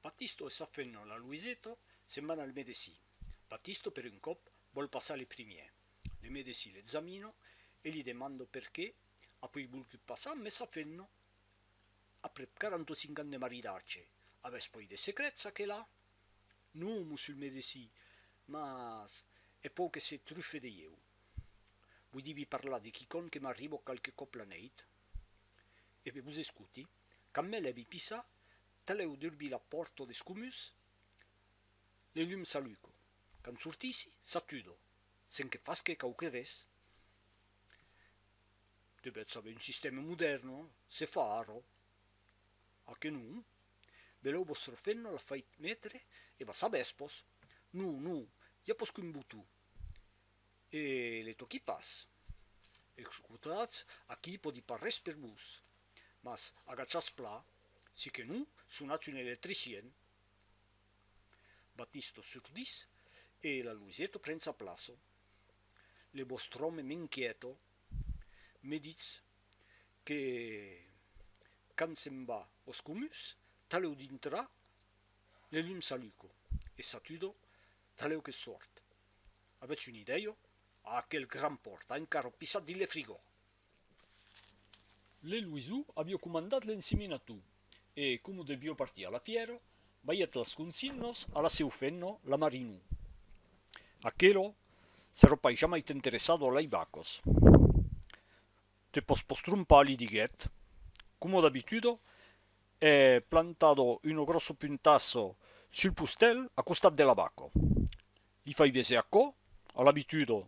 Batisto e sa femna, la Luiseta, se'n van al medecin. Batisto, per un còp, vòl passar le primièr. Le medecin l'examina e li demanda perqué a pui volgut passar mes sa femna, aprèp 45 ans de maridatge, avètz poi de secrets a quela? Non, mossur medecin, mas è pòu que se trufe de ieu. Vòi di-vi parlar de quicòm que m'arriba qualque còp la nèit? E be vos escoti. Quand me lèvi pissa, talèu d'urbir la pòrto des comuns, le lum s'alluco. Quand sortissi, s'atudo, sen que fasque quauque res. Devètz saber un sistèma modèrn, se fa ara. A que non? Velèu vòstre fenno l'a fait metre e va saber espòs. Non, non, i a pòsqu'un botó. E le toqui pas. Excutatz, aquí pòdi pas res per vos. Mas agachatz plan, si que non, sonatz un electricien. Batisto surdís e la Luiseto pren sa plaça. Le vòstre òme m'inquièta. Me ditz que quand se'n va aus comuns, talèu dintra le lum s'aluca e s'atuda talèu que sòrt. Avètz una idèia? Aquel gran pòrt a encara o pissat dins le frigò! Le Luisou avió comandat l'enseminatou e, coma devió partir a la fièra, balhèt las consignas a la seu femna, la Marinou. Aquela s'èra pas jamai t'interessado a lei vacas. Te pòs pas trompar, li diguèt. Coma d'abituda, hè plantada una gròssa puntassa sul postèl a costat de la vaca. Li fai bèser aquò? A l'abitudo.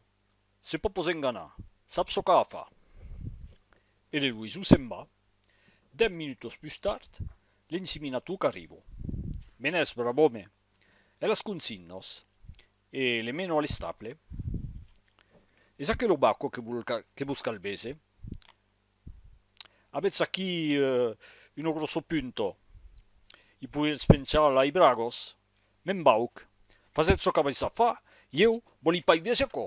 Se pò pos enganar. Sap çò qu'a a far. E l'eloisou se'n va. Dèm minutos pus tard, l'ensiminatò qu'arrivo. Me n'ès, brav'òme. E las consignas? E le meno a l'estable. Es aquelo baco que vos calbese? Avètz aquí uno grosso punto. I poiretz penchar lai bragos. Me'n vauc. Fasètz çò qu'avètz a far, ieu vòli pas i véser aquò.